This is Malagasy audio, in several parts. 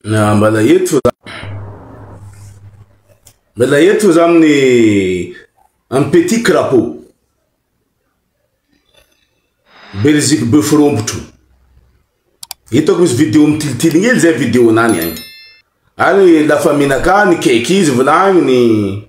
Na mbala eto za mbala eto za amin'ny amin'ny petit crapaud beriziky bœuf rompotro hitako misy vidéo mitilitily ngely zay vidéo nany agny any la famille nakany cake izy volagniny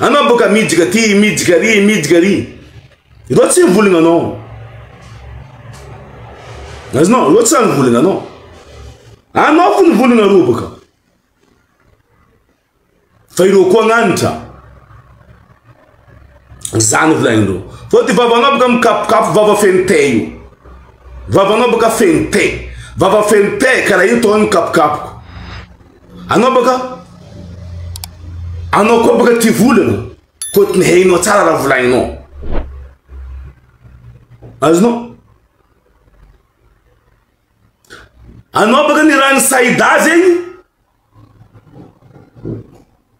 Anao boka midika ty midika ry midika ry. Ireo tsy mivolagna anao. Azonao, ireo tsy mivolagna anao. Anao fo mivolagna ireo boka. Fa ireo koa agnanitra. Zany volagnindreo. Fa ty vavanao boka mikapokapoko vava feno te io. Vavanao boka feno te. Vava feno te karaha io tao mikapokapoko. Anobaka Anao koa baka tia volana Koto ny hainao tsara raha volaninao Azonao Anao baka ny rano Saida zegny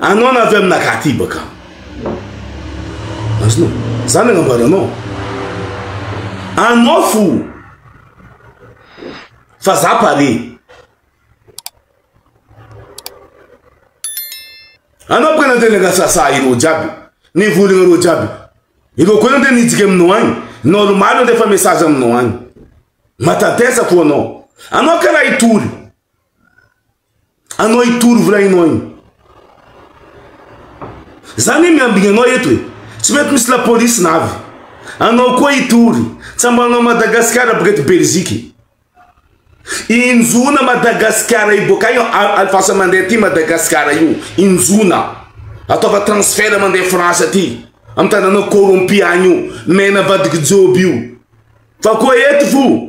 Anoana avy amina katibaka. Azonao? Zany agnambaranao. Anao fo. Fa za pare. Anao baka nandeha nangasasa ireo jiaby. Nivolagna ireo jiaby. Ireo koa nandeha nijika aminao agny. Normal nandefa message aminao agny. Matatesa fo anao. Anao karaha hitory. Anao hitory volainao iny. Za ne miambigny anao eto e. Tsy mety misy la police na avy. Anao koa hitory. Tsambanao Madagascar boka eto Belgique. Injona Madagascar io boka io alfasa mandeha aty Madagascar io. Injona. Ataova transfert mandeha France aty. Am tananao corrompu agny io. Mena vadiky joby io. Fa koa eto fo.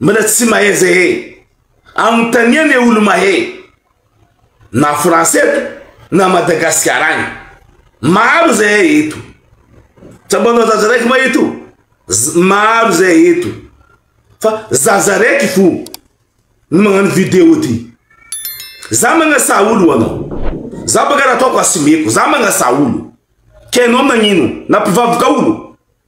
Mbola tsy mahay zay e. Anontania le olo mahay. Na France eto na Madagascar agny. Maro zahay eto. Tsaboanao zaza raiky ma eto? Maro zahay eto. Fa zaza raiky fo no magnano video ty. Za magnasa olo ho anao. Za baka raha ataoko asimeko. Za magnasa olo. Ka ianao nagnino? Nampivaboka olo?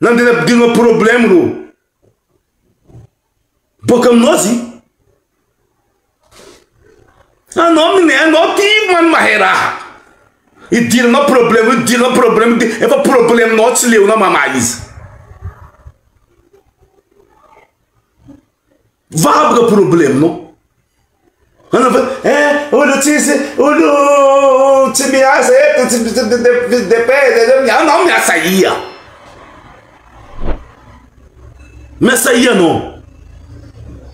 Nandena ampidirina problème reo. Boka aminao zy. Anao mine anao ty man mahay raha. Idiranao problème idiranao problème ty efa problème nao tsy leonao mamaha izy. Vaboka probleminao. Anafa eh olo tsisy olo tsy miasa eto tsy depende anao miasa ia. Miasa ia anao.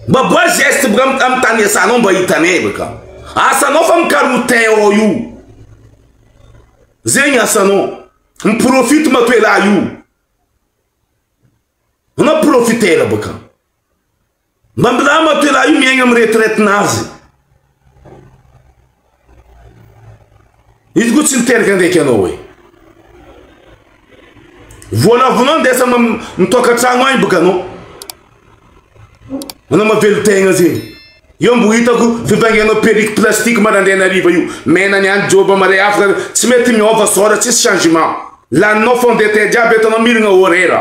Mba boa geste boka amin'ny tany iasanao mba hitanay boka. Asanao fa mikaroha teint ao io. Zegny asanao. Miprofite matoa elah io. Anao profiter boka. Mba milamina to elah io miaigna am retraite nazy. Izy koa tsy miteraka ndraiky anao hoe. Voalavono ndesa mitoaka tragno agny boka anao. Manao mavelotegna zegny. Io mbo hitako fibangianao perruque plastique marandraigna hariva io. Mena niany joba mare afaka tsy mety miova sora tsisy changement. Laninao fond de teint jiaby eto anao mirigna horaire.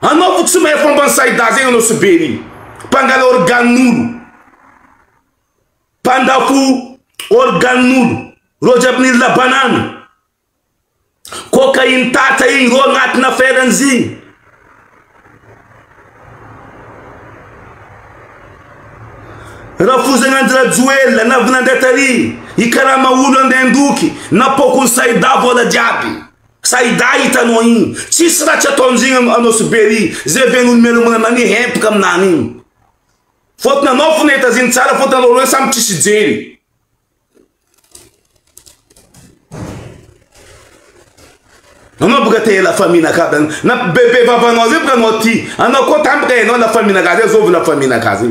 Anaovy tsy mahay fomba ny Sayda zegny anao sy Berry. Mpangala organ'olo. Mpandafo organ'olo. Reo jiaby nila banane. Cocaïne tatra igny reo agnatin'ny affaire-ny zigny. Rafozana andry rajoelina na vinandrata ry i karama olo andeha andoky na pokony sayda vola jiaby. Sayda hitanao iny tsisy ratsy ataonzegny anao sy Berry zay ve no nimelombona anao anie hempaka aminany iny faute nanao fona hitazigny tsara faute anao roe samy tsisy hijery anao boka te la famille nakazy any na bebe vavanao zay boka anao ty anao koa tampoka enao la famille nakazy zovy la famille nakazy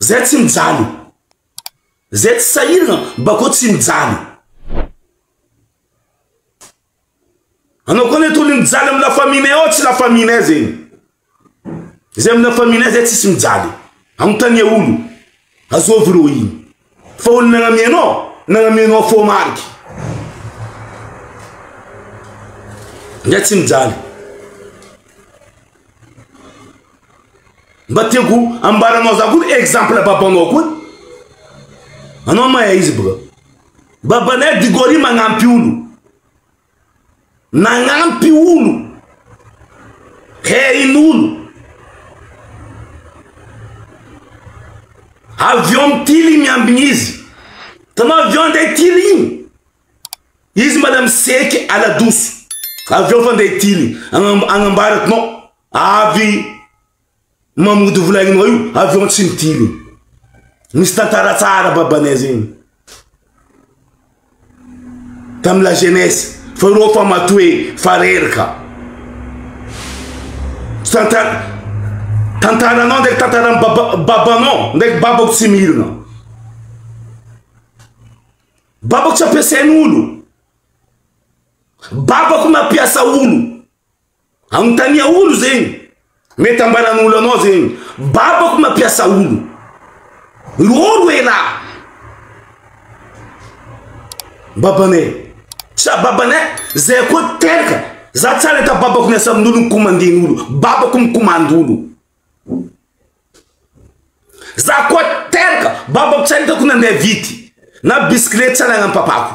Zay tsy mijaly. Zay tsy sahirana mba koa tsy mijaly. Anao koa anie tony mijaly amin'ny la famille ao tsy la famille zegny. Zay amin'ny la famille zay tsisy mijaly. Anontania olo. Azao virohigny. Fa olo nagnamia anao, nagnamia anao fô mariky. Zay tsy mijaly. Mba tiako ambaranao za koa exemple babanao koa. Anao mahay izy boka. Babanay Digori magnampy olo. Nagnampy olo. Hain'olo. Avy eo amin'ny tily miambigna izy. Tanao avy eo andeha tily igny. Izy mbala miseke ala-doso. Avy eo fa andeha tily agnambarako nao. Avy mamody vola ino io avy eo tsy mitily. Misy tantara tsara babanay zegny. Tam la jeunesse fa reo fa matoe fa reraka. Tantara tantaranao ndraiky tantaran'ny baba babanao ndraiky babako tsy mirina. Babako tsy ampiasain'olo. Babako mampiasa olo. Anontania olo zegny. Mety ambaran'olo anao zegny. Babako mampiasa olo. Irô ro elah. Babanay. Sa babanay? Zay koa teraka. Za tsara hita babako miasa amin'olo mikomanden'olo. Babako mikomandy olo. Za koa teraka. Babako tsara hitako nandeha vity. Na bisikilety tsara nanam-papako.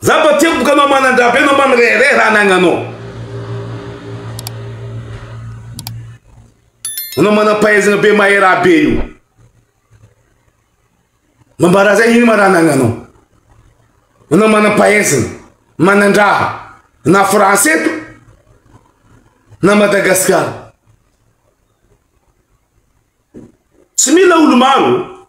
Za mba tsy amiko anao manan-dra be anao mba mirehareha raha anagnanao. Anao manam-pahaizana be mahay raha be io. Mba mba raha zay ino ma raha anagnanao. Anao manam-pahaizana, manan-draha na France eto na Madagasikara. Tsy mila olo-maro.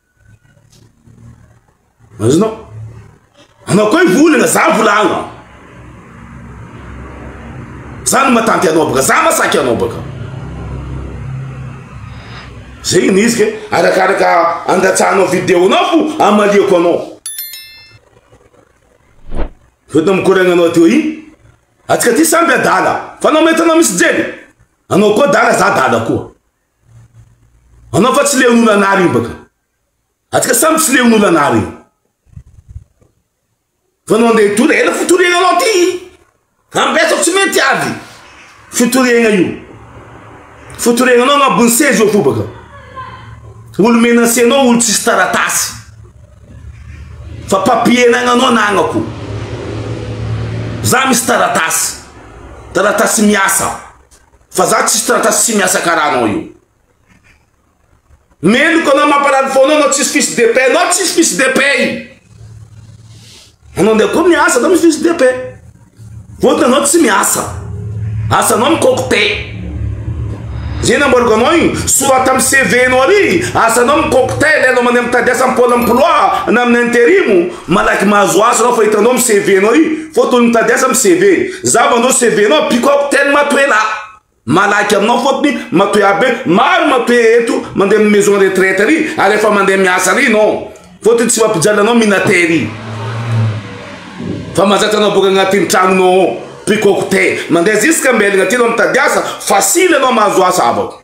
Azonao? Anao koa i volana, za volagno. Za no matanty anao baka, za masaky anao baka. Zegny ny izy ke, arakaraka andatsahanao vidéo-nao fo amaliako anao. Fa tao mikoragna anao teo i, atsika ty samby adala, fa anao mahita anao misy jely, anao koa adala, za adala koa. Anao fa tsy leon'olo anah reo baka. Atsika samy tsy leon'olo anah reo. Fa anao ndeha hitory, ela fitoriagna anao ty. Ambesako tsy mety avy. Fitoriagna io. Fitoriagna anao agnabon'ny seza eo fo baka. Olo menace anao, olo tsisy taratasy. Fa papier anagnanao anagnako. Za misy taratasy. Taratasy miasa. Fa za tsisy taratasy tsy miasa karaha anao io. Meloka anao mampalany foana anao tsisy fils de paix anao tsisy fils de paix. Anao ndeha koa miasa anao misy fils de paix. Votiny anao tsy miasa. Asa anao mikokte. Zay nambaroko anao io, sorata amin'ny CV anao ary asa anao mikokte, ilainao mandeha mitady asa am-pola am-ploa na amin'ny interimo. Malaky mahazo asa anao fa hitanao am CV nao io fô tony mitady asa am CV za mandao CV nao ampiko ao ten matoe la malaky aminao fôtony matoe aby hoe maro matoe eto mande am maison retraite ary ary efa mande miasa ary nao fôtony tsy mampijaly anao minater i fa mazatra anao boka agnatin tragno nao ao piko ao ko te mande ziska ambelagna ty nao mitady asa fasily anao mahazo asa abako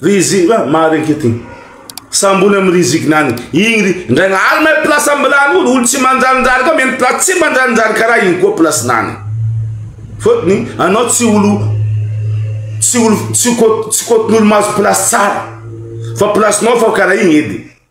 Rizigna ah, maharenke ty. Sambony amin'ny rizigna any. Igny ry ndray lahaly may place ambilany olo, olo tsy manjarinjary ka miheno place tsy manjarinjary karaha igny koa place nany. Fotony anao tsy olo tsy olo tsy kot tsy kotin'olo mahazo place tsara. Fa place-nao fa karaha igny edy.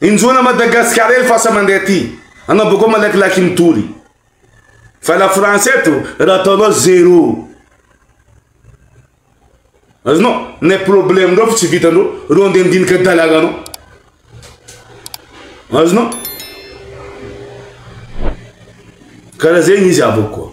Injona Madagasikara el fasa mandeha aty. Anao boko malakilaky mitory. Fa la France eto raha ataonao zero. Azonao, ne problème ndreo fa tsy vitandreo, reo ndeha ndinika dalaganao. Azonao? Karaha zegny izy avoko.